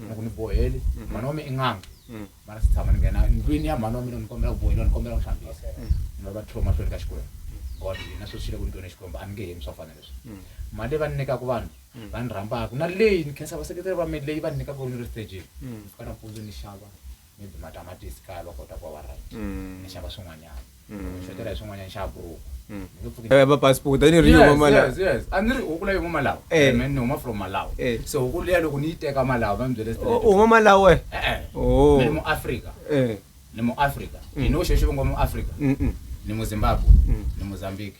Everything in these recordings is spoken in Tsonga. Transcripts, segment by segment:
loko ni boheli mm-hmm. mhani wa mi i n'anga mm. mara si tshama ni nghena ndlwini ya mhani wa mina ni kombela ku boheliwa ni kombela ku hlambisa mm. ni va va tlhelo mahlweni ka xikwembu god na sweswi le ku ni twene xikwembu a ni nge hemi swa fana leswi mm. mali leyi va ni nyikaka vanhu va ni rhambaka na leyi ni khensa vaseketeri va mina leyi va ni nyikaka ku ni ri stageni ka nampundzu ni xava maybe matamatisi kaya va kota ku va va right ni xava swin'wanyana ni xotela hi swin'wanyana ni xava buruku ni nge pfuki Eh, va passport a ni ri yo Yes, mama la yes, yes. a ni ri huku leyi huma malawi Eh. Man, ni huma from malawi Eh. so huku liya loko ni yi teka malawi va mi byele straight. u mama la we E-e. Oh. ni muafrika eh ni muafrika ni no xexo va ngo muafrika mm mm ni muzimbabwe ni mozambique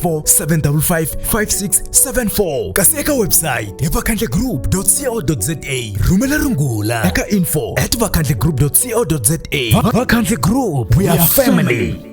0754 kasi eka website hi vakhandlegroup co za rhumela rungula eka info at vakhandlegroup co za vakhandle group we are family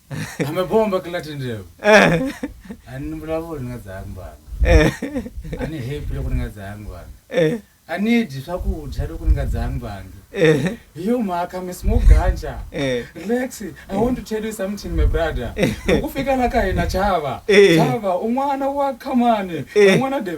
amebomba kilatendevo Eh, ani nimbulavulo ni nga dzayangi vanhu eh, ani happy loko ni nga dzayangi vanhu eh, ani dyi swakudya loko ni nga dzayangi vanhu eh, hi yo mhaka mi smoke ganja eh. relax i want to tell you something my brother loko fika la ka hina chava Eh. chava un'wana wa khamani Eh. un'wana de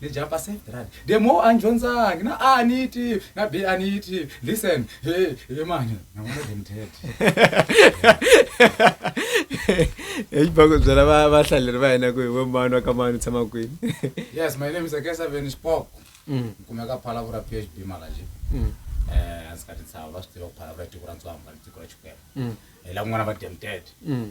Ni jump se right the more a ni dyondzangi na a ni yi tivi na b a ni yi tivi listen he he mani na vona than that exibako byela va vahlaleri va hina ku hi we mani wa ka mani u tshama kwini yes my name is akesa veni spok Mm, ni kumeka phalavura p h b malaji mm, um a ndzi ka tintshava va swi tiva ku phalavura i tiko ra ntswamba ni tiko ra xikwembu mm, hi lakun'wana va demted mm.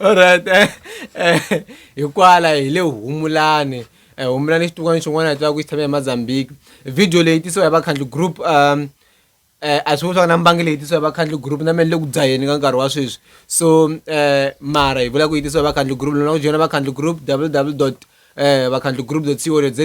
alright eh, eh, hikwala hi le humulani eh, humulani xitukwana xin'wana hi tiva ku xi tshame emozambique video leyi tisiwa hi vakhandli group um eh, a swi vuswaka na mbangi leyi tisiwa hi vakhandli group na mene le ku dzaheni ka nkarhi wa sweswi so um mara hi vula ku yi tisiwa hi vakhandli group lona ku joyina vakhandli group www um vakhandli group co za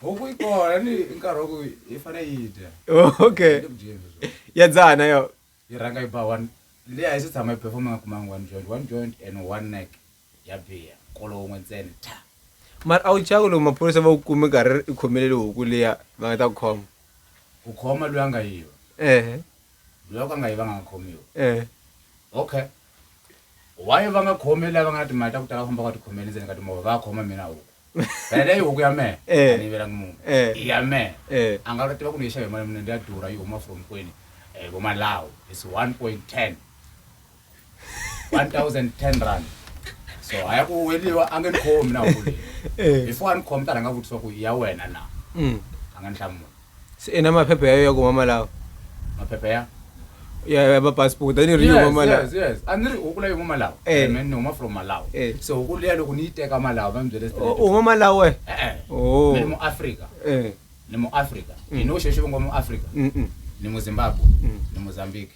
huku yi kona ni i nkarhi wa ku yi fanele yi dya okay Yi le ku dyeni sweswi. ya dzaha na yo yi rhanga yi ba one leyi a yi se tshama yi performa nga kumanga one joint one joint and one neck ya biya kolo wun'we ntsena tha mara a wu chaka loko maphorisa va ku kume nkarhi i khomelele huku liya va nga ta ku khoma ku khoma loyi a nga yiva ehe loyi a ku a nga yivanga a nga khomiwa ehe okay why va nga khomi lava nga na timali ta ku tala famba va tikhomeli ndzeni ka timovha va khoma mina huku phela leyi huku ya mehe eh. a ni yivelangi munhu eh. ya mehe eh. a nga lo tiva ku ni yi xava hi mali mune ndi ya durha yi huma from kwini um vomalawo is one point ten one thousand ten rand so a ya ku weliwa a nge ni khomi na huku leyi before a ni khomi ta rhanga vutisiwa ku ya wena na mm. a nga ni hlamula Se ina maphepha ya yo ya kuma malawi maphepha ya ya ya ma passport a ni ri yo mama la yes yes a ni ri huku leyi huma malawi Eh. Eh, man ni huma from malawi Eh. se huku liya loko ni yi teka malawi va ni byele straight u huma malawi wena e-e Oh. ni mu africa eh ni mu africa you know xexo va ngo mu africa mm ni mu zimbabwe ni mozambique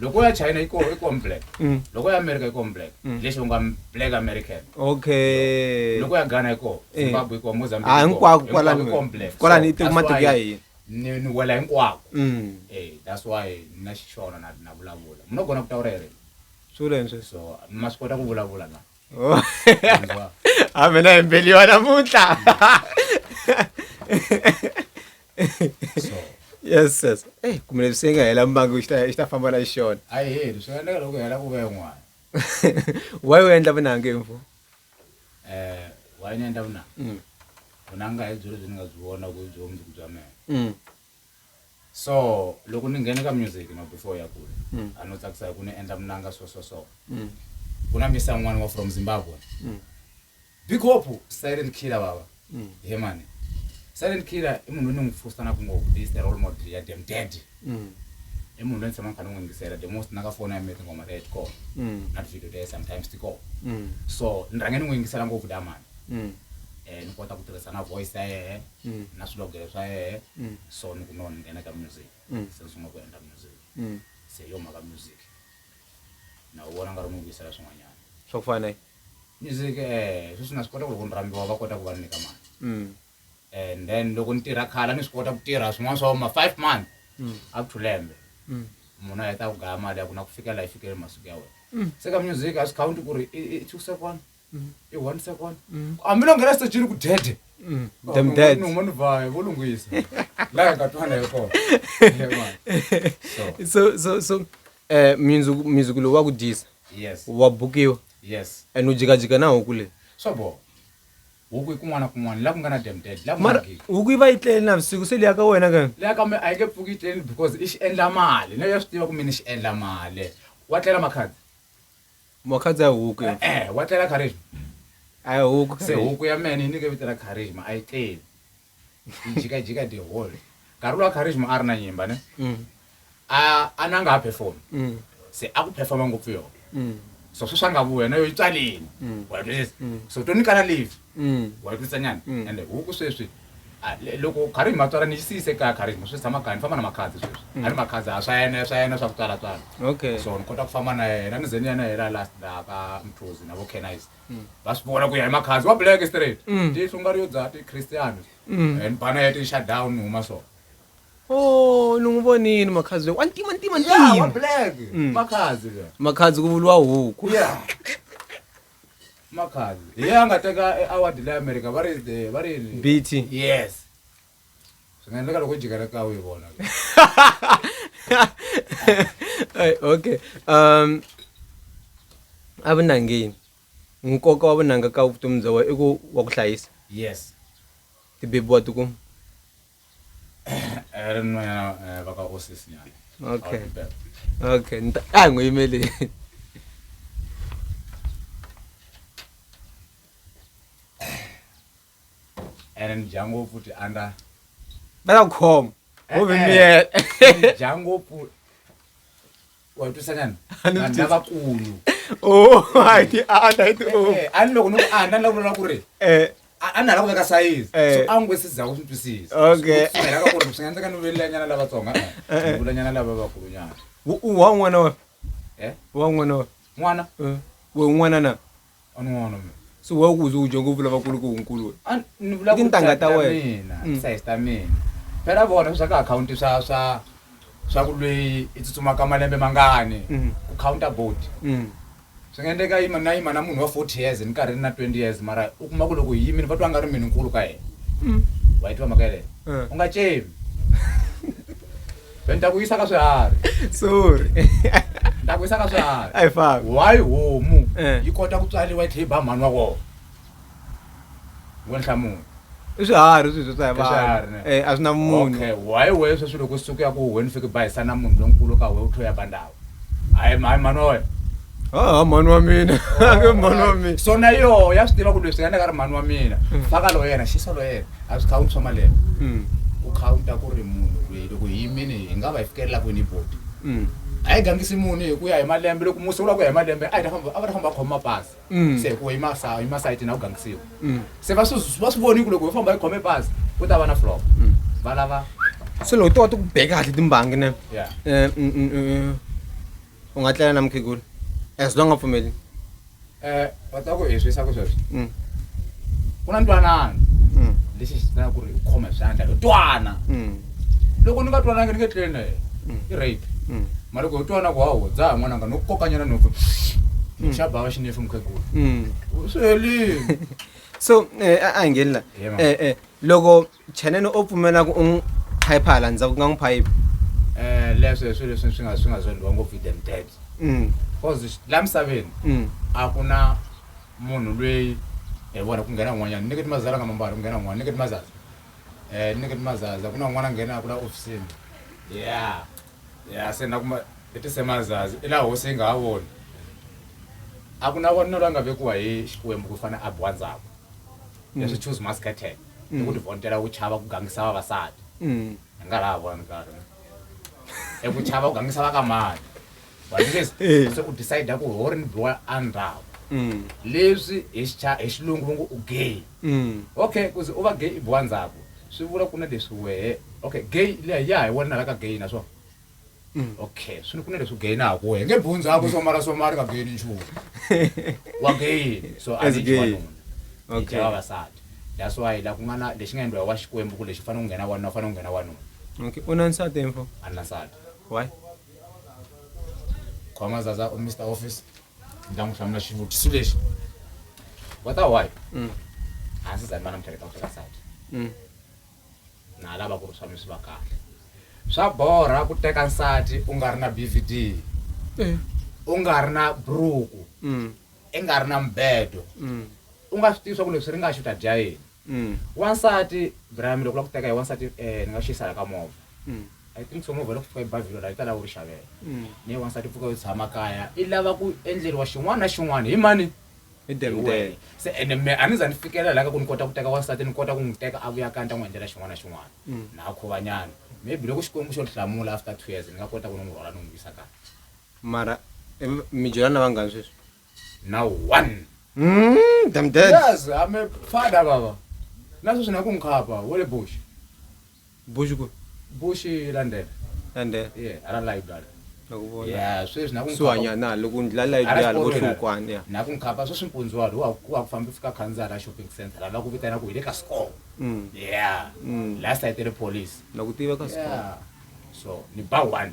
loko ya china iko iko black mm. loko ya america iko black mm. leswi unga black american okay loko ya ghana iko eh. zimbabwe iko mozambique ah hinkwako kwalani iko black kwalani so, ito matiko ya hina ni ni wela hinkwako mm. eh that's why na xixona na na vulavula muna kona ku ta urere swi leswi so ma swi kota ku vulavula na oh. a mina hi mbeliwa namuntlha mm. so yes yes eh kumele swi nga hela mbangi xi ta xi ta famba na xona a yi heli swi nga endleka loko hela ku ve n'wana why u endla vunangi mfu eh why ni endla vunangi mm. vunanga hi byo lebyi ni nga byi vona ku byo mundzuku bya mina mm. so loko ni nghene ka music no before ya kule mm. a no tsakisa hi ku ni endla munanga so so so ku na misa n'wana wa from zimbabwe Big Hope silent killer baba. Mm. He man. Silent killer i munhu ni n'wi pfusa na ku ngo this the role model ya dem dead. Mm. I munhu loyi ni tshamaka ni n'wi yingisela the most na ka foni ya mina tinghoma ta Edcom. Mm. Na video ta sometimes ti kona. Mm. So ni rhange ni n'wi yingisela ngopfu da man. Mm. Eh ni kota ku tirhisa na voice ya yena mm. na swilogelo swa yena. Mm. So ni ku no ni nghena ka music. Mm. Se ni sungula ku endla music. Mm. Se yo mhaka music. Na u vona nga ri n'wi yingisela swin'wanyana. Swa ku fana Music sweswi na swi kota ku loko ni rambiwa va kota ku va ni nyika mali and then loko ni tirha khale a ni swi kota ku tirha swin'wana swa ma five month up to lembe munhu a heta ku gaya mali ya ku na ku fikela yi fikele masiku ya wena se ka music a swi khawunti ku ri i two second i one second hambi lo nghena sitejini ku dede numa ni vaya vo lunghisa laha nga twana hi kona so so so Eh, mundzuku mundzuku lowu wa ku dyisa yes wa bukiwa yes and u jikajika na huku leyi swa boha huku i kun'wana na kun'wana la ku nga na dem dead la ku nga mara gidi huku yi va yi tlele navusiku se liya ka wena ka leya kambe a yi nge pfuki yi tleli because i xi endla mali na ya swi tiva ku mina xi endla mali wa tlela makhadzi makhadzi ya huku yo. e-e wa tlela kharisma a yi huku se huku ya mene yi nike vito ra kharisma a yi tleli ijikajika the whole Karolo wa charisma a ri na nyimba ne mm. a a nanga a perform mm. se a ku performa ngopfu yona mm. so sweswi a nga vu wena yo yi tswaleni wa twisisa so to nyikana leave wa twisisa nyana ende huku sweswi loko khari hi matswala ni xisiyise kaya khari hi swi tshama kaya ni famba na makhadzi sweswi a ni makhadzi a swa yena swa yena swa ku tswalatswala okay so ni kota ku famba na yena ni ze ni ya na yena last laha ka mthuzi na vo canise va swi vona ku ya hi makhanzi wa black straight Mm. tihlungari yo dzaha tichristiano Mm. and bana ya ti-shutdown ni huma so o ni n'wi vonini makhazi loyi wa ntima ntima Yeah, wa ntima black Mm. makhazi le makhazi ku vuriwa huku Yeah. makhazi hi ye a nga teka e-award le america va ri the- va ri bt yes swi nga endleka loko u jika ritlawu yi vona okay um evunangeni nkoka wa vunanga ka vutomi bya wena i ku wa ku hlayisa yes tibebi wa tikuma eh, ri nwena eh, va ka osisinyana okay okay a hi n'wi yimeleni ene ni dya ngopfu ti andza va ta ku khoma wo ve miyela ni dya ngopfu wa twisa nyana A ni vanhu twisi. lavakulu o hayi a a ta yi ti o Eh, a ni loko ni ku andza ni la ku lava ku ri eh a a na la ku veka sayizi Eh. so a ngwe se za ku swi twisisa Okay. So, swi nga ka ku ri swi nga endleka ni vulanyana lavatsonga Eh, eh. ni vulanyana lava vakulunyana wa n'wana wa eh wa n'wana wa n'wana Eh, we un'wana na a ni n'wana mina se wa ku u dyongo vula vakulu ku nkulu we a ni vula ku tintangha ta wena mina mm. size ta mina phela vona swa ka akhawunti swa swa swa ku lweyi i tsutsumaka malembe mangani mm. ku counter board mm. swi nga endleka yima na yima na munhu wa forty years ni karhi ni na twenty years mara u kuma ku loko hi yimini va twa nga ri mini nkulu ka yena wa yi tiva mhaka yeleyo eh. u nga cemi ni ta ku yisa ka swiharhi sorry ni ta ku yisa ka swiharhi a hi fambi why homu Eh. yi kota ku tswariwa yi tlhe yi ba mhani wa kona wo ni hlamula i swiharhi sweswo swa hi I swiharhi, ne? vanhu Eh, a swi na munhu okay why we sweswi loko suku ya ku wena fike bayisa na munhu lonkulu ka we u tlho ya ba ndhawu hayi hayi mhani wa wena haha mhani wa mina ke mhani wa mina so na yoho ya swi tiva ku leswi yena ka ri mhani wa mina faka lo yena xisa lo yena a swi khawunti swa malembe Mm, ku khawunta ku ri munhu loyi loko hi yimini hi nga va hi fikelelaka kwini hi boti mm. a yi gangisi munhu hi ku ya hi malembe loko musi u lava ku ya hi malembe a hi ta famba a va ta famba va khoma mapasi Mm. se hikuva imasayiti ima sayiti na ku gangisiwa Mm. se va swi va swi voni ku loko ho famba hi khome bazi ku ta va na flop Mm. va lava se loko to wa ti ku beka kahle timbangi ne ya Eh, mm, mm, mm. u nga tlela na mukhegula as long a pfumeli um va ta ku hi swisa ku sweswi Mm. ku na ntwanano Mm. lexi xi tana ku ri u khoma hi swandla hi twana Mm. Loko ni nga twanangi ni nge tlele na yena. I rape. Mara loko ho twana ku hawo dzaha n'wananga no kokanyana nhompfu. Xa bava xi nefu mukhegula. Swi helile. So eh, a a hi ngheni la. Yeah, mama. Eh eh loko Chanene o pfumela ku u n'wi phayipha hala ndzhaku ku nga n'wi phayipha. Eh leswi swi leswi swi nga swi nga zondhiwa ngopfu hi them dads. Mm. Cause la misaveni Mm. a ku na munhu lweyi hi vona ku nghena un'wanyana ni nge ti mazalanga mambala ku nghena un'wana ni nge ti mazazi. Eh, ni kuti mazaza kuna un'wana a nghena a kula ofisini ya ya se na kuma i tise mazazi i laha hosi yi nga ha voni a ku na vonelo la nga vekiwa hi xikwembu ku fana a biwa ndzhaku mm. leswi choose masketel i mm. ku tivontela ku chava ku gangisa vavasati mm. hi nga laha vona nkarhi i ku chava ku gangisa va ka mani vaningezi Eh. se u decide ku ho ri biwa a ndhawu Mm. leswi hi xicha- hi xilungu va ngo u gay Mm. okay kuze u va gay i biwa ndzhaku swi vula ku na leswi wehe okay gay leya ya hi wena la ka gay na swona Mm. okay swi ni ku na leswi gay na ha ku wehe nge biwu ndzhaku somara somara ka gay ni nchumu wa gay so a As ni gay. wanuna Okay. okay. vavasati that's why la ku nga na lexi nga endliwa wa xikwembu ku lexi fanele ku nghena wanuna fanele ku nghena wanuna Okay. U na nsati mfo? a ni na nsati Why? khoma zaza u mr office ni ta n'wi hlamula xivutiso lexi wa ta why Mm. a ndzi zani vana mutheleka muthelesati Mm. na lava ku ri swa mi swi va kahle swa borha ku teka nsati u nga ri na bvd Eh. u nga ri na buruku Mm. i nga ri na mubedo u nga swi tivi swa ku leswi ri nga xi u ta dya yini wansati brami loko u lava ku teka hi wansati um ni nga xi yisala ka movha i think so movha loko fika ebavhilo laha yi ta lava u ri xavela ne wansati pfuka yo tshama kaya i lava ku endleriwa xin'wana na xin'wana hi mani hi demdele se ene me a ni za ni fikelela laha ka ku ni kota ku teka wansati ni kota ku n'wi teka a vuya kaya ni ta n'wi endlela xin'wana na xin'wana na khovanyana maybe loko xikwembu xo ni hlamula after two years ni nga kota ku ni n'wi rhwala ni n'wi yisa kaya mara em- mi byelana vangani sweswi na one Mm, damn dead. yes i'm a father baba na sweswi na ku nkhapa wa le bush bush ku bush london ande yeah ara library nakuvona yeah sweswi na ku nkhapa suhanya na loko ndzi lala Ara ibyala xikolweni. kuhlukwana ya na ku nkhapa sweswi mpundzu walo wa wa ku famba fika khandziyara ya shopping center lava ku vitana ku hi le ka score Mm, yeah Mm. last night le police na ku tiva ka swa yeah so ni ba one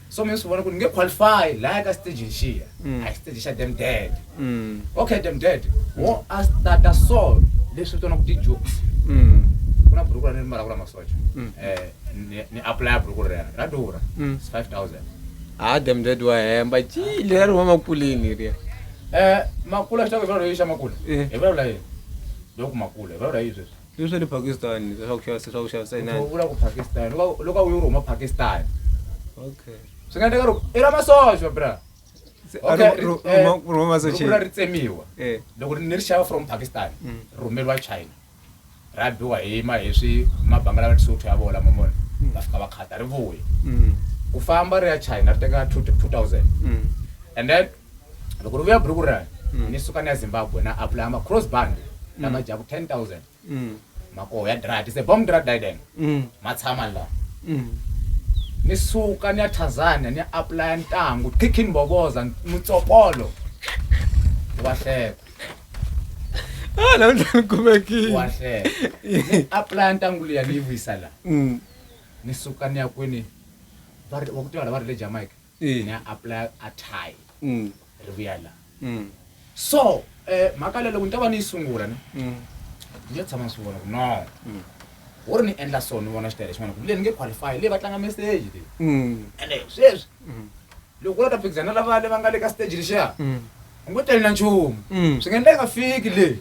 so mi swi vona ku ni nge qualify laya ka stage lexiya mm. a hi stage xa dem dead mm. okay dem dead wo mm. a starta so leswi vitana ku ti-jokes ku na buruku ra ni mbalaka la masocha um ni applya buruku rera ra durha s five thousand ha dem dead wa hemba ji lera ri huma makulini riya um makula xitako hi vulavula yi xa makula eh. hi vulavula yini loko makula hi vulavula yi sweswi I swa le Pakistan leswi swa ku xavisa swa ku xavisa hi nani. Vula ku Pakistan loko loko u yi rhuma Pakistan. Okay. Swi nga endleka loko i ra masocha bra. Okay, rhuma masocha. Loko ri tsemiwa. Eh. Loko ni ri xava from Pakistan, mm. rhumeriwa China. Ra biwa hi ma hi swi mabanga lawa tisuthu ya vola mamona. Mm. Va fika va khata ri vuya. Mm. Ku famba ri ya China ri teka 2000. And then loko ri vuya buruku rani mm. ni suka ni ya zimbabwe na aplaya ma-cross band mm. lama dyaku ten thousand mm. makoho ya drat se bom drat diden ma tshama la ni suka ni ya tanzania ni ya aplaya ntangu khikhi ni boboza mutsopolo wa hleka ah, la ndla ni kumekile wa hleka ni aplaya ntangu liya ni yi vuyisa la ni suka ni ya kwini va ku tiva la va ri le jamaica ni ya apply a tie ri vuya la so um mhaka leyi loko ni ta va ni yi sungula ni ni ya tshama ni swi vona ku no wo ri ni endla so ni vona xitayele xin'wana kumbe leyi ni nge qualify leyi va tlanga message leyi ene sweswi loko u la ta phikizana lava le va nga le ka stage lexiya u ngo tali na nchumu swi nga endla yi nga fiki leyi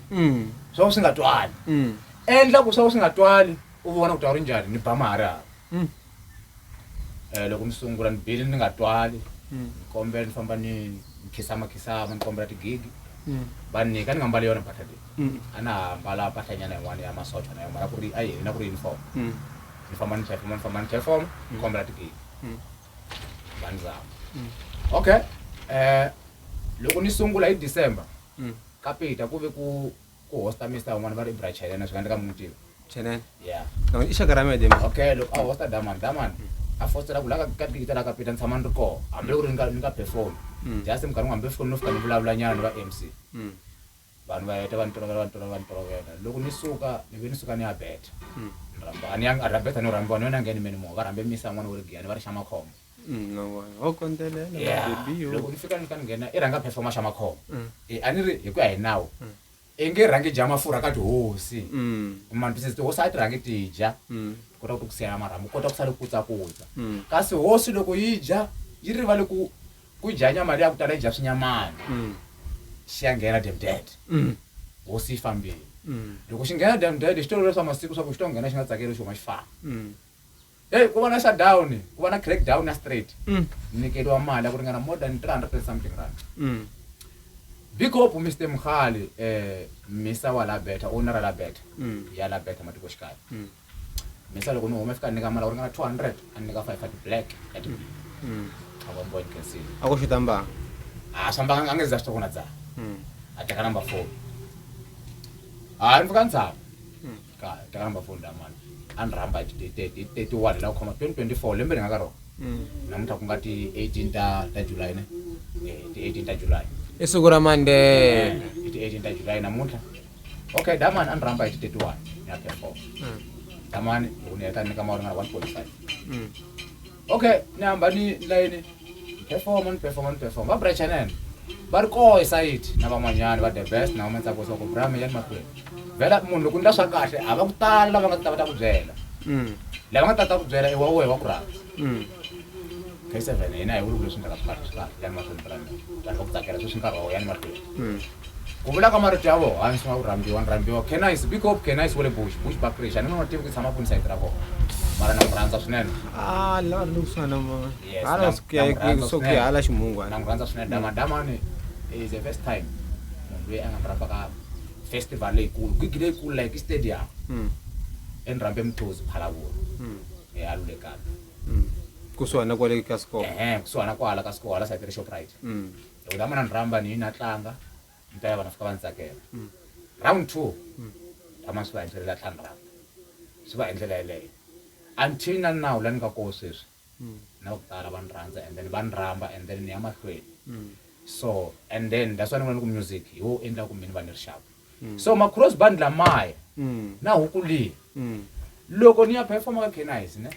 swa ku swi nga twali endla ku swa ku swi nga twali u vona ku ta wu ri njhani ni ba mahari hava um loko ni sungula ni bile ni nga twali hmm. ni kombela ni famba ni ni khisamakhisama ni kombela tigigi hmm. va ni nyika ni nga mbali yona mpahla leyi hmm. a na ha mbala mpahlanyana yin'wana ya masocha na yona ku ri a yini na ku ri uniform ni famba ni chefoma ni famba ni chefoma ni kombela tigigi va ni zama okay um loko ni sungula hi december kapita ku ve ku ku hosta mista van'wana va ri ibra chelen a swi nga ndzi ka mi n'wi tiva chelen ya i xaka ra mede okay loko a hosta daman daman a fostela ku la ka ka digita la ka pita ni tshama ni ri koho hambi loko ri ni ka ni ka perform mm. just minkarhi hambi foni no fika ni vulavula nyana ni va mc mm. vanhu va heta va ni tolovela va ni tolovela va ni tolovela loko ni suka ni ve ni suka ni ya beta mm. ni rhamba a ni ya a rhabeta ni rhambiwa ni yona nge ni meni mo va rhambe misa n'wana wo ri giyani va ri xa makhombo Mm, no, wa- wa kondzelela Yeah. baby yo. loko ni fika ni ka ni nghena i rhanga performa xa makhombo Mm. Eh, a ni ri hi ku ya hi nawu Mm. i nge rhangi dya mafurha ka tihosi Mm, mantisisi tihosi a ti rhangi ti dya mm, kota ku tikusiyela marhambu kota ku sale kutsakutsa mm, kasi hosi loko yi dya yi rivale ku ku dya nyama leyi ya ku tala yi dya swinyamana mm, xi ya nghena demded mm, hosi yi fambile mm, loko xi nghena demded xi tolovela swa masiku swa ku xi to nghena xi nga tsakeli xoma xi famba mm. Hey, ku va na shutdown, ku va na crackdown ya straight. Mm. Ni nyikeriwa mali ya ku ringana more than 300 and something rand. Mm. Big hope Mr. Mkhali, eh, Misa wa la better, owner la better. Mm. Ya la better matiko xikaya. Mm. Misa loko ni huma fika ni nyika mali ya ku ringana 200, a ni nyika 500 black. At mm. mm. A ku mboni kasi. A ku xuta mbanga. A swa mbanga a nge za xitokona dza. Mm. A teka number 4. A ni fika ntsava. ka ta rhamba foni la mani a ni rhamba hi ti- ti- ti- ti- 31 hi la ku khoma 2024 lembe ni nga ka rona namuntlha ku nga ti 18 ta ta july ne Eh, ti 18 ta july i siku ra mande hi ti 18 ta july namuntlha okay damani a ni rhamba hi ti 31 ya perform damani loko ni heta ni ka mawari nga 1.5 okay ni hamba ni layini performa ni performa ni performa va brachanene va ri koho esayiti na van'wanyana va the best na vamantsako swa ku brame ya ni mahlweni vhela munhu loko ni la swa kahle a va ku tala lava nga ta va ta ku byela mm. lava nga ta ta ku byela iwa wehe wa ku rhandza mm. k seven hina hi vuli ku leswi ndlaka swi kahle swi kahle ya ni mahlweni brame vanhu va ku tsakela sweswi nkarhi wa wo ya ni mahlweni mm. ku vula ka marito ya vona hansi nga ku rhambiwa ni rhambiwa kenais big hope kenais wa le bush bush bakrish a ni nga n'wi tivi ku tshama kwini sayiti ra kona mara na n'wi rhandza swinene Ah, la ri lokusana ma. Yes, Hala na- sikuya na murhandza ku sokuya swinene. hala ximungu na hala. n'wi rhandza swinene dama damani is the first time munhu loyi a nga ni rhamba ka festival leyikulu gigi leyikulu like istadium Mm. eni rhambe mthozi phalavula Mm. ealulekani Mm. Kusuhana kwale ka score. ehe kusuhana kwala ka sikohala sayiti ri shoprite Mm. loko ni hamba na ni rhamba ni na tlanga ni ta ya vana fika va ni tsakela round two rama swi va hi ndlela la tlanga round swi va hi ndlela yeleyo until na nawu la ni nga koho sweswi na ku tala va ni rhandza and then va ni rhamba and then ni ya mahlweni so and then that's why ni vona ni ku music hi wo endla ku mina va ni rixaka so macross band lamaya na huku leyi loko ni ya performa ka canise ne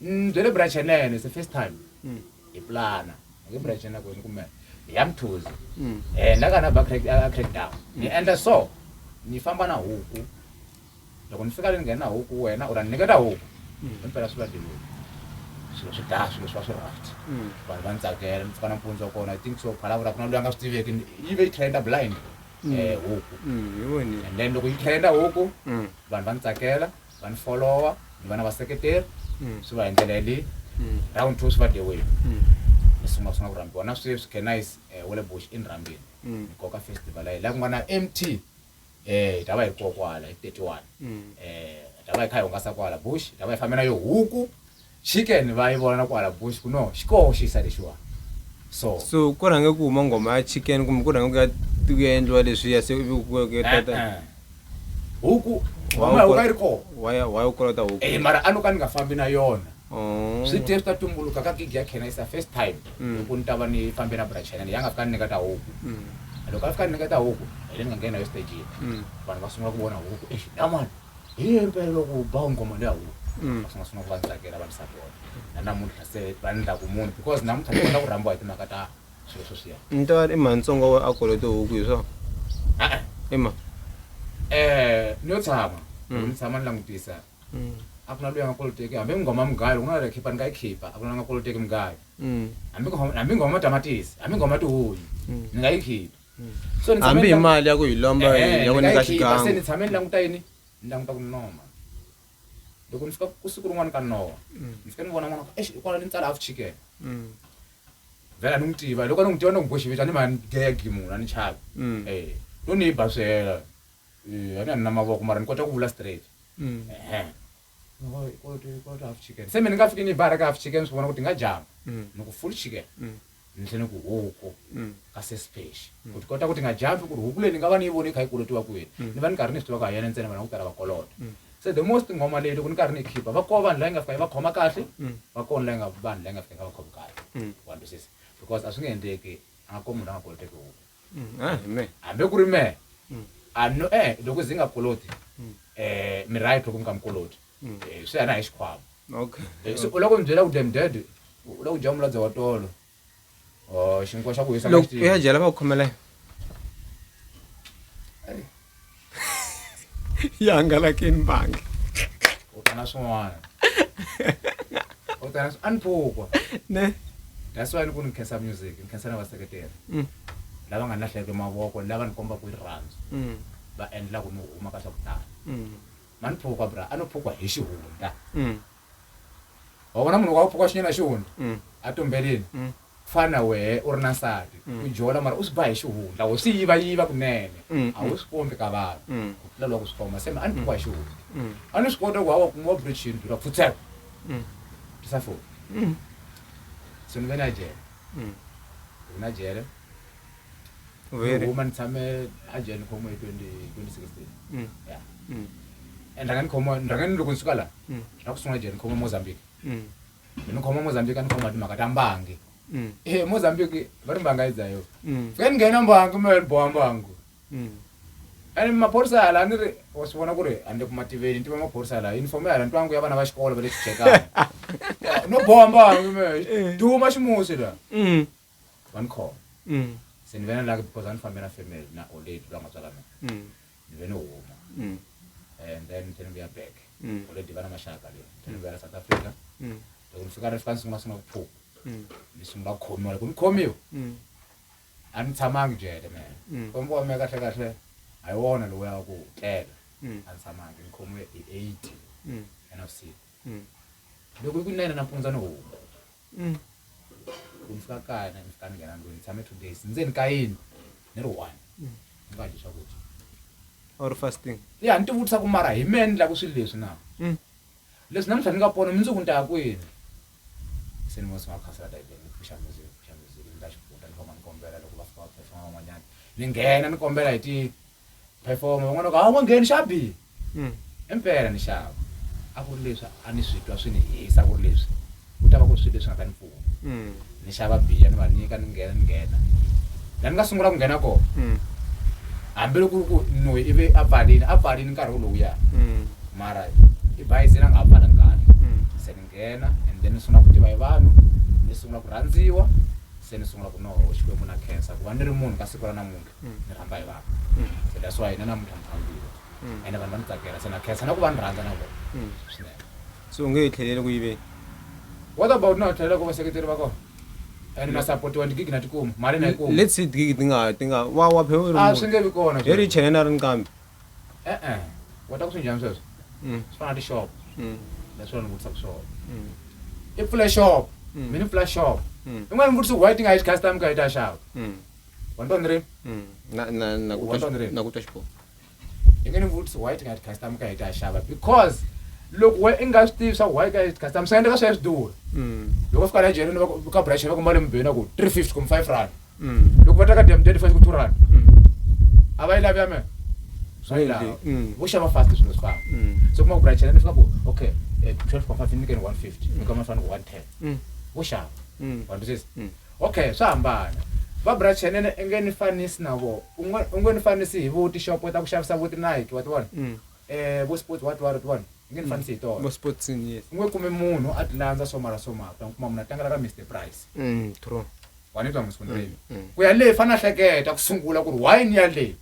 Mm, bya le branchenene it's the first time mm. hi plana nge branchenene kwini kumbe hi ya mthuzi mm. eh, na ka na ba crack down ni endla so ni famba na huku loko ni fika le ni nghena huku wena u ra ni nyiketa huku himpela swi va dilweni swilo swi daya swilo swi va swi raft vanhu va ni tsakela ni pfuka nampundzu wa kona i think so phalavula ku na loyi a nga swi tiveki yi ve yi trenda blind um huku and then loko yi trenda huku vanhu va ni tsakela vani follower ni vana va seketeri mm. swi va hi ndlela yaleyi mm. round two swi va the way mm. ni sungula sungula ku rhambiwa na sweswi canise um eh, wele bush i ni rhambile ni koka festival ayi laha ku nga na m t um eh, hi ta va hi kokwala hi thirty one um hi ta va hi kha hi hungasa kwala bush hi ta va hi fambe na yo huku Chicken va yi vona na kwala bush ku no xi koho xisa lexiwa so. So ku rhange ku huma nghoma ya chicken kumbe ku rhange ku ya ku ya endliwa leswiya se ivi ku ku tata. E-e huku nghoma ya huku a yi ri koho. Why why u kolota huku? E mara a no ka ni nga fambi na yona. Oh. Swi te swi ta tumbuluka ka gig ya Khenna is the first time loko ni ta va ni fambe na Bra Chena leyi a nga fika ni nyiketa huku. Loko a fika a ni nyiketa huku hi le ni nga nghena na yo stage-ini vanhu va sungula ku vona huku eish na mani. hi ye impela loko u ba ngoma leyi awu mm. va sungula sungula ku va ndzi tsakela va ndzi sapota na namuntlha se va ni ndlaku munhu because namuntlha ni kota ku rhambiwa hi timhaka ta swilo sweswiya ntoyani i mantsongo wa akolo tihuku hi swona e-e i ma um ni yo tshama mm. ni tshama ni langutisa mm. a ku na loyi a nga koloteki hambi nghoma mugayo loko na khipa ni nga yi khipa a ku na nga koloteki mugayo hambi nghoma matamatisi hambi nghoma tihuyi ni nga yi khipa so ni tshame hambi ni hi lang- mali ya ku hi lomba Eh, eh, ya ku ni nga nyika yi khipa, se ni xigangu tshame ni languta yini ni languta ku noma loko ni fika ku siku rin'wana ka nowa ni fika ni vona n'wana exi hikwala ni tsala half chicken Mm, vhela ni n'wi tiva loko ni n'wi tiva ni n'wi boxiveta ni ma ni gegi munhu a ni chavi mm, Eh, no ni yi basela Eh, a ni a ni na mavoko mara ni kota ku vula straight mm. Ehe. se me ni nga fiki ni bara ka half chicken swi vona ku ti nga jama mm. ni ku full chicken mm. ni tlhe ni ku huku mm. ka sesipexi ku ti kota ku ti nga jampi ku ri huku leyi ni nga va ni yi voni yi kha yi kolotiwa ku yini ni va ni karhi ni swi tiva ku ha yena ntsena vana ku tala va kolota se the most nghoma leyi loko ni karhi ni khipa va koho vanhu layi nga fika yi va khoma kahle va koho layi nga vanhu layi nga fika yi nga va khomi kahle wantu sesi because a swi nge endleki a nga koho munhu a nga koloteki huku hambe ku ri mehe a no eh loko zi nga koloti um mi right loko mi nga mi koloti swi ya na hi xikhwama so u loko mi byela ku dem dad u loko dya muladza wa tolo xinkwa xa ku hisa ya jela va ku khomela yi hangalakini mbangi u ta na swin'wana u ta na a ni phukwa ne that's why ni ku ni khensa music ni khensa na vaseketeri mm. lava nga ni lahleke mavoko lava ni kombaka rirhandzu mm. va endlaku ni huma ka swa ku tala mm. ma ni phukwa bra a no phukwa hi xihundla wa vona munhu wa u pfuka xinyana hi xihundla mm. a tumbelini mm. fana wehe u ri na nsati mm. u jola mara u swi ba hi xihundla wo swi yiva yiva kunene a wu swi kombi ka vanhu ku tlula loko swi khoma se a ni pfuka hi xihundla a ni swi kota ku hawa kuma wa bridgini dura pfutseka tisa foni se ni ve na jele ni ve na jele u Very. Very. huma ni tshame a jele ni khomiwe hi 20 2016 Mm. ya Mm. and rhanga ni khomiwa ni rhanga ni loko ni suka la Mm. ra ku sungula jele ni khomiwa mozambique Mm. ni khomiwa mozambique a ni khomiwa timhaka ta mbangi Mm. e mozambique va ri mbanga yi dzayo Mm. fika ni nghena mbangi mi boha mbangu Mm. and maphorisa hala a ni ri wa swi vona ku ri a ni le ku mativeni ni tiva maphorisa hala uniform ya hala ntwangu ya vana va xikolo va le xijekana no boha mbangi me duma ximusi la Mm. Wa ni khoma? Mm. Se ni ve na lucky because a ni fambe na family na old lady loyi a nga tswala mina. Mm. Ni ve ni huma. Mm. And then ni tlhe ni vuya back. Mm. Old lady va na maxaka leyi. Ni tlhe ni vuya la South Africa. Mm. Loko ni fika ni fika ni sungula sungula ku phuka. Mm. Ni sungula ku khomiwa loko ni khomiwa. Mm. A ni tshamangi jele mina. Mm. Kombo wa mina kahle kahle a hi wona loyi wa ku tlela. Mm. A ni tshamangi ni khomiwe hi 80 Mm. ya navusiku. Mm. loko i ku nayina nampundza ni huma Mm. ku ni fika kaya na ni fika ni nghena ndlwini ni tshame two days ndzeni ka yini ni ri one ni nga dyi swakudya or fasting ya ni tivutisa ku mara hi mehe ni lava swilo leswi na Mm. leswi namuntlha ni nga pona mundzuku ni ta ya kwini se ni vosi nga khasela bibele ni pfuxa music ni pfuxa music ni ta xifuta ni famba ni kombela loko va fika va pfefana van'wanyana ni nghena ni kombela hi ti perform van'wana ka a wu nga ngheni xa biha mm. impela ni xava a ku ri leswi a ni swi twa swi ni hisa ku ri leswi ku ta va ku ri swilo leswi nga ta ni pfuna mm. ni xava biya ni va nyika ni nghena ni nghena la ni nga sungula ku nghena kona mm. hambiloko ku ri ku noyi ivi a pfalini a pfalini nkarhi wu lowuya mara i bayizini a nga ha pfala nkarhi se ni nghena and then ni sungula ku tiva hi vanhu ni sungula ku rhandziwa se ni sungula ku noho xikwembu na khensa ku va ni ri munhu ka siku ra namuntlha mm. ni rhandza hi vanhu mm. so that's why na namuntlha ni rhandzile mm. ende vanhu va ni tsakela se na khensa na ku va ni rhandza na vona swinene so u nge hi tlheleli ku yiveni what about na tlhelela ku vaseketeri va kona and na supportiwa ndigigi na tikuma mali na yikuma let's see digigi ti nga ti nga wa wa phe a ah, swi nge vi kona hi ri chene na ri nkambi e-e wa ta ku swi njhani sweswo swi fana na tixopo leswi vanhu vutisa ku swona i pfule shop mina pfula shop in'wana ni vutisa why ti nga yi custom ka yi ta xava wandonire mm. nakutwa xiboho i nge ni vutisi why ti nga ti customer ka hi ta xava because loko we i nga swi tivi swa why ka customer swi nga endleka swi ya swi durha mm. loko fika la jerini ka brash va ku mali mubeni ku three fifty kumbe five rand mm. loko va ta ka dam date fast ku two rand mm. a va yi lavi ya mina swa yi lava vo xava fast swilo swi famba so kuma ku brash ni fika ku okay eh, twelve point five ni nyikeni one fifty ni kama ni fanele ku one ten vo xava wa ndzi Ok, swa hambana. Barbra Chenene, u nge ni fanisi na vo. U ngo, u ngo ni fanisi hi vo tixopo ta ku xavisa vo ti-Nike, wa ti vona? Eh, vo Sports what what, wa ti vona? U nge ni fanisi hi tona. Vo Sports, yes. U ngo kume munhu a ti landza swo mara swo mara, u ta n'wi kuma munhu a tlangela ra Mister Price. True. Wa ni twa Musundheni? Ku ya le, i fanele a hleketa ku sungula ku ri why ni ya le.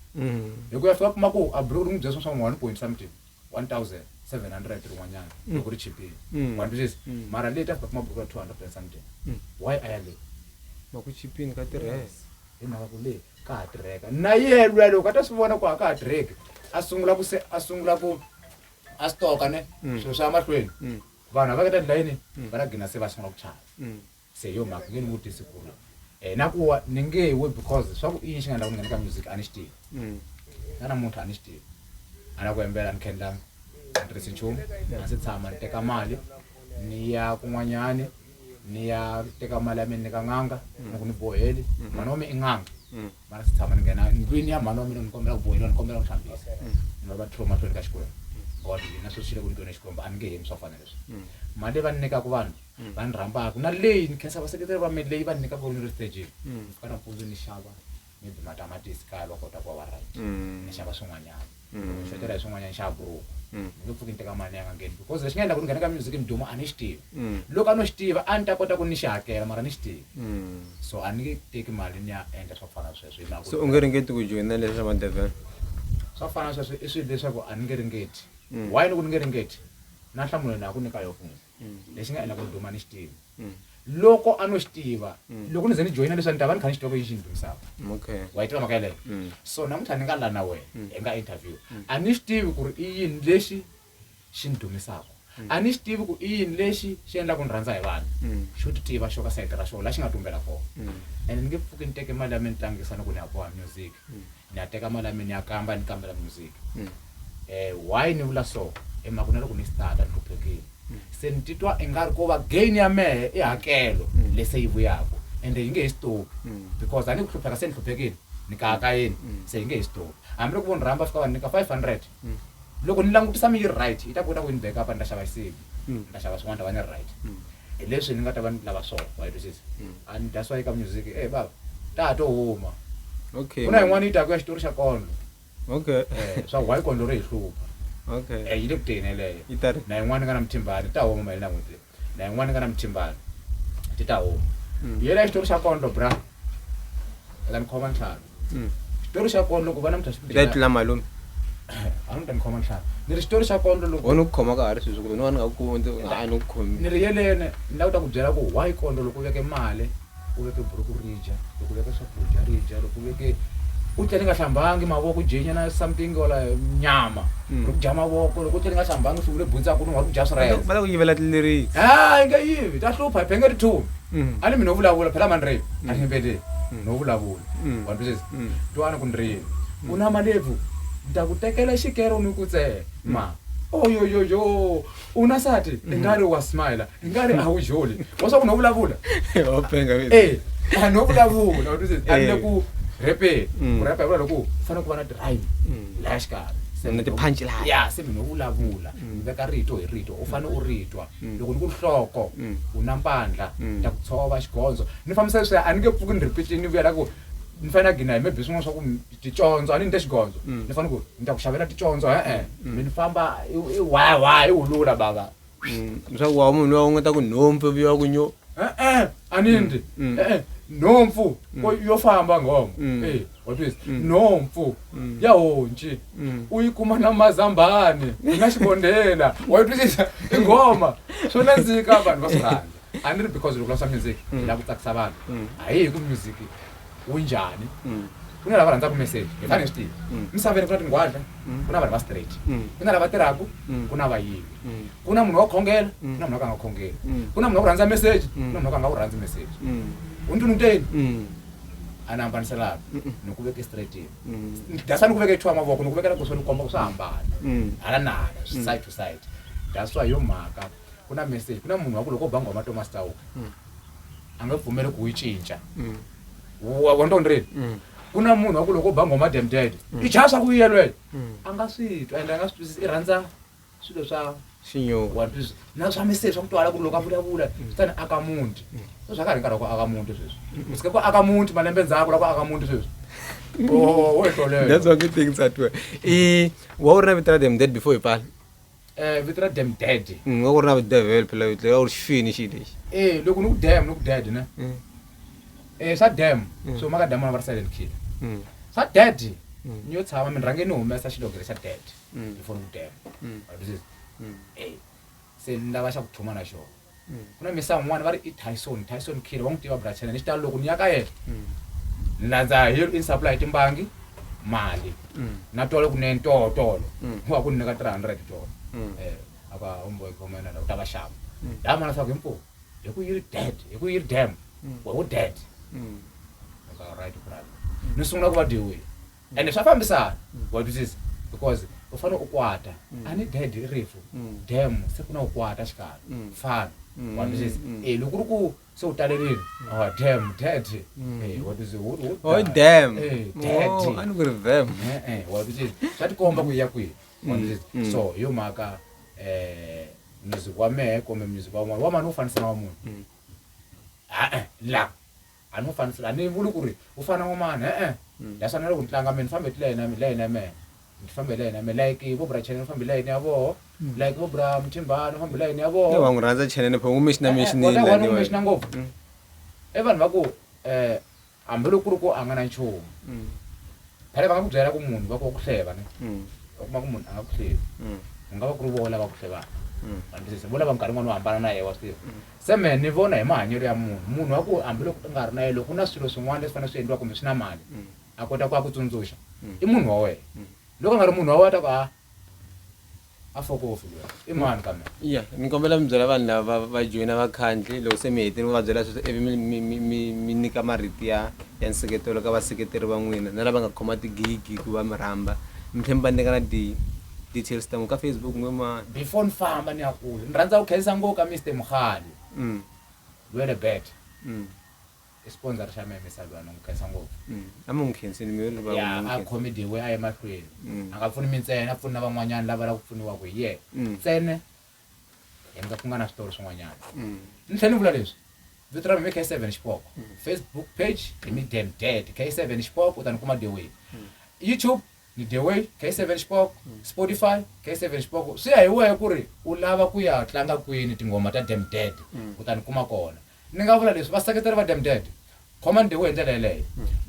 Hi ku ya fika a kuma ku a bro ri n'wi byela swilo swa ku wa ni pointisa mutivi. 1700 rin'wanyana mm. loko ri chipile mm. wa ntwisisa mm. mara leyi ta fika kuma buruku ra 200 rand something why a ya leyi ma ku chipini ka tirheka hi mhaka ku leyi ka ha tirheka na yelwe loko a ta swi vona ku a ka ha tirheki a sungula ku se a sungula ku a stoka ne swilo swa mahlweni vanhu a va ka ta ndlayini va na gina se va sungula ku chava Se yo mhaka nge ni vutisi ku ri um na ku wa ni nge we because swa ku i yini xi nga endla ku ni nghena ka music a ni xi tivi mm. na namuntlha a ni xi tivi a na ku yembela ni khendlanga a ni tirhisi nchumu a se tshama ni teka mali ni ya kun'wanyani ni ya teka mali ya mina ni ka n'anga mm. ni ku ni boheli mm-hmm. mhani wa mina i n'anga mm. mara se tshama ni nghena ndlwini ya mhani wa mina ni kombela ku boheliwa ni kombela ku hlambisa ni va va tlhelo mahlweni ka xikwembu god yina sweswi xi le ku ni tweni xikwembu a ni nge hemi swa fanele leswi mali leyi va ni nyikaka vanhu Mm. va ni rhambaka na leyi ni khensa vaseketeri va me leyi va ni nyikaka ni ri stageni Mm. ka nampundzu ni xava maybe matamatisi kaya va kota ku va va right Mm. ni xava swin'wanyana Mm. ni xotela hi swin'wanyana ni xava buruku Mm. ni nge pfuki ni teka mali yanga ngeni because lexi nga endla ku ni nghena ka music ni duma a ni xi tivi Mm. loko a no xi tiva a ni ta kota ku ni xi hakela mara ni xi tivi Mm. so a ni nge teki mali ni ya endla swa ku fana na sweswo hi mhaka ku so u nge ringeti ku joyina leswi swa madevhela swa ku fana na sweswo i swilo leswaku a ni nge ringeti Mm. why ni ku ni nge ringeti na nhlamulo na ku nyika yo fundi lexi nga endla ku ri duma ni xi tiva loko a no xi tiva loko ni ze ni joyina leswi a ni ta va ni kha ni xi tiva ku yi xi ni dumisaka wa yi tiva mhaka yeleyo so namuntlha ni nga la na wena hi nga interview a ni xi tivi ku ri i yini lexi xi ni dumisaka a ni xi tivi ku i yini lexi xi endlaku ni rhandza hi vanhu xo ti tiva xo ka sayiti ra xona la xi nga tumbela kona and ni nge pfuki ni teke mali ya mina ni tlangisa ni ku ni ya boha music ni ya teka mali ya mina ni ya kamba ni kambela music um why ni vula so i mhaka na loko ni starta ni hluphekile se ni titwa i nga ri ko va gain ya mehe i hakelo leyi se yi vuyaka ende yi nge he stop because a ni ku hlupheka se ni hluphekile ni kaka yini se yi nge he stop hambi loko vo ni rhamba fika va ni nyika five hundred loko ni langutisa mi yi ri right yi ta kota ku yi ni back upa ni ta xava xisibi ni ta xava swin'wana ta va ni ri right hi leswi ni nga ta va ni lava swona wa yi twisisa a ni dya swa yi ka music e baba ta ha to huma okay ku na yin'wana yi taku ya xitori xa kondlo okay Eh, swa why kondlo ri hi hlupha okay Eh, yi le ku teni yeleyo Yi ta ri- na yin'wana yi nga na muthimbani ta huma maheli na n'hweti leyi na yin'wana yi nga na mitimbani ti ta huma mm. yela xitori xa kondlo bra eka ni khoma ntlhanu mm. xitori xa kondlo ku va na muthaxitula malume a ni ta ni khoma ntlhanu ni ri xitori xa kondlo loko wena ku khoma ka ha ri sweswi kumbe ni va ni nga ku kondzi a ni ku khomi ni ri yelene ni lava ku ta ku byela ku why kondlo loko u veke mali u veke buruku ri dya loko u veka swakudya ri dya loko u veke u tlele nga hlambangi mavoko dyenya na something ola nyama hmm. ri ku dya mavoko loko u tlele nga hlambangi sungule bundza ku lunga ri ku dya swirhele va la ku yivela tlileriki a yi nga yivi ta hlupha hi benge ri thumi hmm. a ni mi no vulavula phela mani reni a ni yimbeleli hmm. no vulavula wa twisisa twana ku ni reni u na malebvu ni ta ku tekela xikero ni ku tsema oyoyoyo u na sati i nga ri wa smile hi nga ri a wu joli wa swa ku no vulavula wa penga vile eh a no vulavula wa twisisa a ni le ku repeni Mm. ku repa hi vula loko ku fanele ku va na drive Mm. laya xikarhi Se Na ni- ti-punch line. ya se mina u vulavula ni veka rito hi rito u fanele u ri twa Mm. loko ni ku nhloko Mm. u na mpandla Mm. ta ku tshova xigondzo ni fambisa leswi a ni nge pfuki ni ripitini ni vuyela ku ni fanele na gina hi maybe swin'wana swa ku mi- ticondzo a ni ni te xigondzo Mm. ni fanele ku ni ta ku xavela ticondzo e-e Mm. mi ni famba i i wawa i wulula bava leswaku wa munhu loyi u nga ta ku nhompfu ivi wa ku nyo e-e a ni ndzi e-e nhompfu ko- yo famba nghomo Mm. Eh, wa twisisa? nhompfu ya honci u yi kuma na mazambani na xibondela wa yi twisisa i nghoma swo nandzika vanhu va swi rhandza a ni ri because loko la swa music hi lava ku tsakisa vanhu a hi hi ku music wu njhani mm. ku na lava rhandzaka meseji hi fane hi swi tiva mm. misaveni ku na tingwadla mm. ku na vanhu va straight ku na lava tirhaka ku na vayivi ku na munhu wa khongela ku na munhu wa ka nga khongeli ku na munhu wa ku rhandza meseji ku na munhu wa ka nga wu rhandzi meseji u ndlwini uteni a ni hambaniselaka ni ku veke straightini dasa ni ku veke chuwa mavoko ni ku vekela kuswa ni komba ku swa hambana hala na hala side to side daswa yo mhaka ku na meseji ku na munhu wa ku loko u ba nghoma tomas tawuka a nge pfumeli ku yi cinca mm. wa wa ntondi rini mm. ku na munhu wa ku loko ba nghoma demdede i chaya swa ku vuyelwela a nga swi twa ende a nga swi twisisi i rhandza swilo swa xinyowantwisisa na swa miseri swa ku twala ku ri loko a vulavula swi ta ni aka muti so swa ka ri nkarhi wa ku aka muti sweswi u sike ku aka muti malembe ndzhaku la ku aka muti sweswi oh, wo ehlolelwa that's one good thing tsatiwe i wa u ri na vito ra demdede before hi pala Eh, vito ra dem dead Mm, va ku ri na videvhele phela vito leri a ku ri xifini xi lexi eh loko ni ku dem ni ku dead ne Mm, eh swa dem Mm. so maka damona va ri silent killer mm, swa dead Mm. ni yo tshama mi rhange ni humesa xilogere xa dead Mm. before ni ku dem Mm. Wa twisisa? Mm. eh se ni lava xa ku thuma na xona mm. ku na misa un'wana va ri i tyson tyson kid wa n'wi tiva brachana ni xitalo loko ni ya ka yena mm. ni landza hi in supply hi timbangi mali mm. na tolo kunene tolo tolo u va ku ni nyika three hundred tolo um eh, aka homeboy khomena la u ta va xava laha mana swaku himpo hi ku yi ri dead hi ku yi ri dam wa u dead aka right brother ni sungula ku va dyiwile ende swa fambisana wa twisisa because u fane u kwata a ni dad i rifu dam se ku na u kwata xikalo fana wa twisisa eh loko ri ku se u talerile oh dam dad eh wa twisisa wo wo Oh, dam. eh dad Oh, a ni ku ri vam eh eh wa twisisa swa tikomba ku ya kwihi wa twisisa so hi yo mhaka eh music wa mehe kumbe music wa un'wana wa mani u fanisa na wa munhu Ah, eh, la A ni n'wi faniseli, a ni vuli ku ri u fana wa mani, e-e. Hi swa na loko ni tlanga mehe ni famba hi tilayeni ya mina, layeni ya mehe, ni famba hi layeni ya mehe, like vo bra Chene ni famba hi layeni ya voho, like vo bra Mthimbani ni famba hi layeni ya voho. Wa n'wi rhandza Chene ni pho u n'wi mention-a mention-ini la ni mention-a ngopfu. I vanhu va ku hambi loko ku ri ku a nga na nchumu, phela va nga ku byela ku munhu va ku wa ku hleva ne, u kuma ku munhu a nga ku hlevi, ku nga va ku ri voho lava ku hlevaka, wa ni twisisa, vo lava minkarhi yin'wana u hambana na yehe wa swi tiva. Se mehe ni vona hi mahanyelo ya munhu, munhu wa ku hambiloko u nga ri na yena loko ku na swilo swin'wana leswi fanele swi endliwa kumbe swi na mali a kota ku a ku tsundzuxa i munhu wa wena. Loko a nga ri munhu wa wena a ta ku a a fokofu luya i mani ka mehe. Ya ni kombela mi byela vanhu lava va va joyina vakhandli loko se mi hetile mi va byela sweswo ivi mi mi mi mi mi nyika marito ya ya nseketelo ka vaseketeri va n'wina na lava nga khoma tigigi ku va mi rhamba mi tlhela mi va nyika na ti. details ta n'wi ka Facebook n'we mani. Before ni famba ni ya kule ni rhandza ku khensa ngo ka Mister Mugale loyi le bet i sponsor xa mehe Mister Lwani n'wi khensa ngopfu. A mi n'wi khenseni mi ri va n'wi a khome dewe a ye mahlweni a nga pfuni mi ntsena a pfuni na van'wanyana lava lava ku pfuniwa ku hi yena ntsena hi nga ku nga na switori swin'wanyana ni tlhela ni vula leswi vito ra mina i K7 Xipoko Facebook page i Mister Dead K7 Xipoko u ta ni kuma dewe YouTube Hi The Way, K7 Xpoko, Spotify, K7 Xpoko, swi ya hi wehe ku ri u lava ku ya tlanga kwini tinghoma ta Dem Dead u ta ni kuma kona. Ni nga vula leswi, vaseketeri va Dem Dead, khomani The Way hi ndlela yeleyo.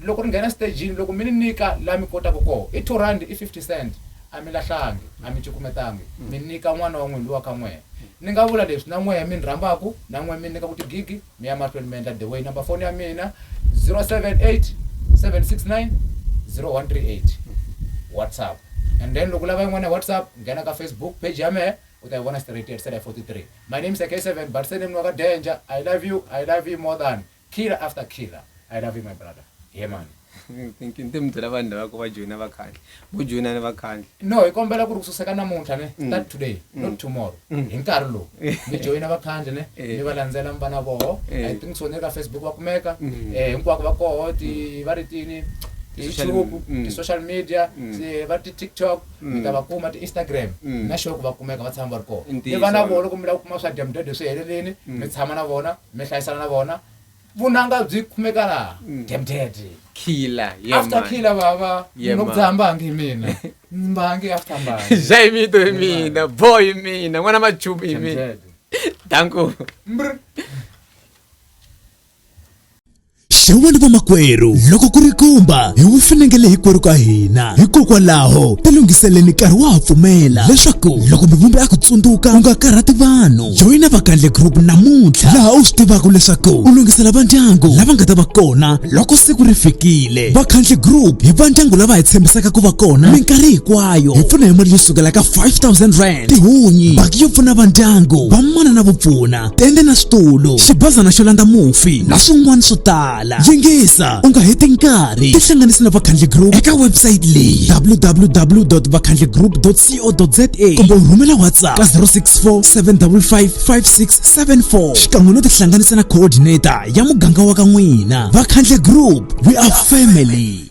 Loko ni nghena stejini, loko mi ni nyika laha mi kotaka kona, i two rhandi, i fifty cent, a mi lahlangi, a mi cukumetangi, mi nyika n'wana wa n'wina loyi wa ka n'wehe. Ni nga vula leswi, na n'wehe mi ni rhambaka, na n'wehe mi ni nyikaka tigigi, mi ya mahlweni mi endla the way number foni ya mina 078 769 0138 whatsapp and then loko lava yin'wana ya whatsapp nghena ka facebook page ya mehe u ta yi vona straight at sela 43 my name is ak7 but sename wa ka danger i love you i love you more than killer after killer i love you my brother ye mani thinking ti mi byela vanhu lavako va joyina vakhandli vo joyina ni vakhandli no hi kombela ku ri kususeka namuntlha ne mm. start today mm. not tomorrow mm. hi nkarhi lowu mi joyina vakhandli ne eh. mi va landzela mi va na voho eh. i think so ni le ka facebook va kumeka eh, hinkwako va koho ti va ri tini youtube ti-social media va ti-tiktok mi ta va kuma ti-instagram na xoku va kumeka va tshama va ri koho ni va na voho loko mi lava ku kuma swa dyamudede swi helelini mi tshama na vona mi hlayisana na vona vunanga byi kumeka laha demdede khila yeah, after man. khila baba Yeah, man. nokudzaha mbangi hi mina mbangi after mbangi zha hi mito hi mina bo hi mina n'wana machumu hi mina Demdede. danku Mbr. xewani vamakwerhu loko ku ri kumba hi wu fanekele hinkwerhu ka hina hikokwalaho tilunghiseleni nkarhi wa ha pfumela leswaku loko mivumbi a ku tsundzuka u nga karhati vanhu joyina vakandle group namuntlha laha u swi tivaka leswaku u lunghisela va ndyangu lava nga ta va kona loko siku ri fikile vakhandle group hi va ndyangu lava hi tshembisaka ku va kona minkarhi hinkwayo hi pfuna hi mali yo sukela ka 5000 rand tihunyi baki yo pfuna va ndyangu vamana na vupfuna tende na switulu xibazana xo landza mufi na swin'wana swo tala yingisa u nga heti nkarhi tihlanganisi na vakhandle group eka website leyi www vakhandle group co.za kumbe u rhumela whatsapp ka 064 755 5674 xikan'we no tihlanganisa na coordinator ya muganga wa ka n'wina vakhandle group we are family